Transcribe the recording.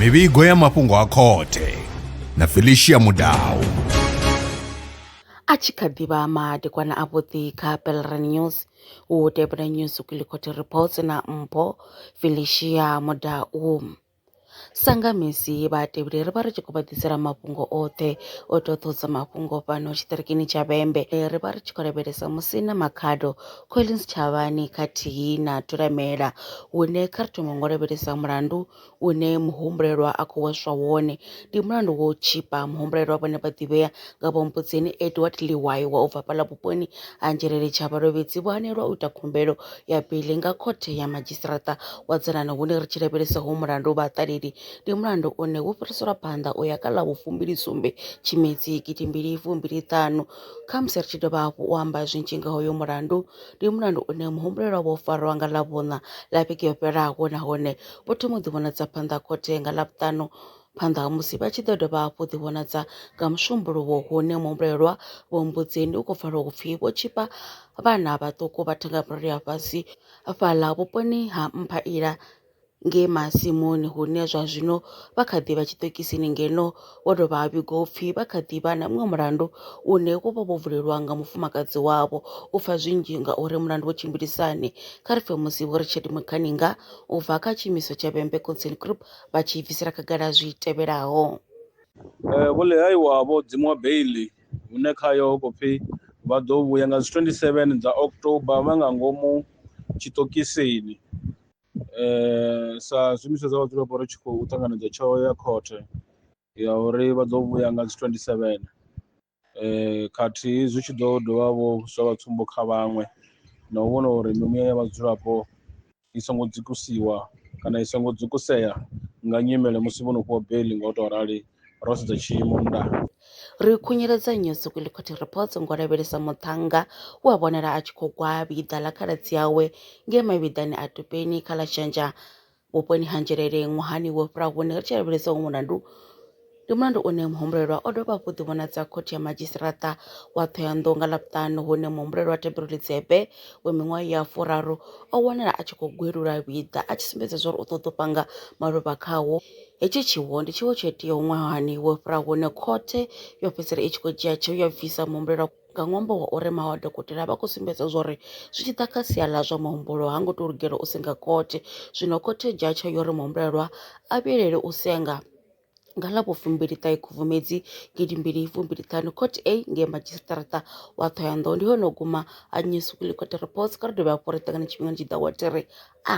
mivhigo ya mafhungo a khothe na felicia mudau a tshi kha ḓivha madekwana a vhuḓi kha pelre news u tevhela news kwilikhothe reports na mpho felicia mudau Sa nga misi vhatevheli ri vha ri tshi khou vha ḓisela mafhungo oṱhe o ita u ṱohisa mafhungo fhano tshiṱirikini tsha Vhembe. Ri vha ri tshi khou lavhelesa musi na Makhado, Collins Tshavhani khathihi na Thulamela hune kha ri thome ngo lavhelesa mulandu une muhumbulelwa a khou hweswa wone. Ndi mulandu wa u tshipa muhumbulelwa vhone vha ḓivhea nga vho Mbudzeni Edward Liwaiwa u bva hafha ḽa vhuponi ha Nzhelele Tshabalovhedzi vho hanelwa u ita khumbelo ya beiḽi nga khothe ya madzhisiṱiraṱa wa dzanani hune ri tshi lavhelesa ho mulandu vha ṱaleli ndi mulandu une wo fhiriselwa phanḓa u ya kha ḽa vhufumbili sumbe tshimedzi gidi mbili fumbili ṱanu kha musi ri tshi dovha hafhu u amba zwinzhi nga hoyo mulandu ndi mulandu une muhumbulelwa vho farwa nga ḽa vhuṋa ḽa vhege yo fhelaho nahone vho thoma u ḓi vhonadza phanḓa khothe nga ḽa vhuṱanu Phanḓa ha musi vha tshi ḓo dovha hafhu u ḓivhonadza nga musumbuluwo hune muhumbulelwa Vho Mbudzeni u khou pfala u pfi vho tshipa vhana vhaṱuku vha thenga murole ya fhasi fhaḽa vhuponi ha Mphaila nge masimuni hune zwa zwino vha kha ḓi vha tshiṱokisini ngeno wo dovha ha vhigo pfi vha kha ḓi vha na muṅwe mulandu une wo vha vho vulelwa nga mufumakadzi wavho u pfa zwinzhi nga uri mulandu wo tshimbilisani kha ri pfe musi vho ri tshedimo khaninga u bva kha tshiimiswa tsha Vhembe Concern Group vha tshi bvisela khagala zwi tevhelaho. Vho Lehaiwa vho dzimiwa beiḽi hune khayo ho khou pfi vha ḓo vhuya nga dzi 27 dza October vha nga ngomu tshiṱokisini sa zwiimiswa zwa vhadzulapo ri tshi khou ṱanganedza tsheo ya khothe ya uri vha ḓo vhuya nga dzi 27. khathihi zwi tshi ḓo dovha vho zwa vha tsumbo kha vhaṅwe na u vhona uri mimuya ya vhadzulapo i songo dzikusiwa kana i songo dzukusea nga nyimele musi vho no fhiwa beiḽi nga u tou rali ro sedza tshiimo nnḓa. Ri khunyeledza nnyi Suku ḽi khothi Reports ngo lavhelesa muṱhannga we a vhonala a tshi khou gwa vhiḓa ḽa khaladzi awe ngei mavhiḓani a Tupeni kha ḽa Shanja Vhuponi ha Nzhelele ṅwahani wo fhiraho hune ri tshi lavhelesa uyu mulandu, ndi mulandu une muhumbulelwa o dovha hafhu ḓivhonadza khothe ya madzhisiṱiraṱa wa Thohoyandou nga Ḽavhuṱanu hune muhumbulelwa Thembiro Litshepe we miṅwaha ya furaru o wanala a tshi khou gwelula vhiḓa a tshi sumbedza zwauri u ṱoḓa u panga maluvha khawo. Hetshi tshiwo ndi tshiwo tsho iteaho ṅwahani wo fhiraho hune khothe yo fhedzisela i tshi khou dzhia tsheo ya bvisa muhumbulelwa Nga ṅwambo wa uri maṅwe a dokotela a vha khou sumbedza zwa uri zwi tshi ḓa kha sia ḽa zwa muhumbulo ha ngo tou lugela u senga khothe. Zwino khothe i dzhia tsheo ya uri muhumbulelwa a vhilele u senga nga ḽa vhufumbiliṱahe Khubvumedzi gidi mbili fumbili ṱhanu. Court A ngei Madzhisiṱaraṱa wa Ṱhohoyanḓou ndi hone ho guma ha News Weekly Court Reports. Kha ri dovhe hafhu ri ṱangane tshifhingani tshi ḓaho wa thiri A.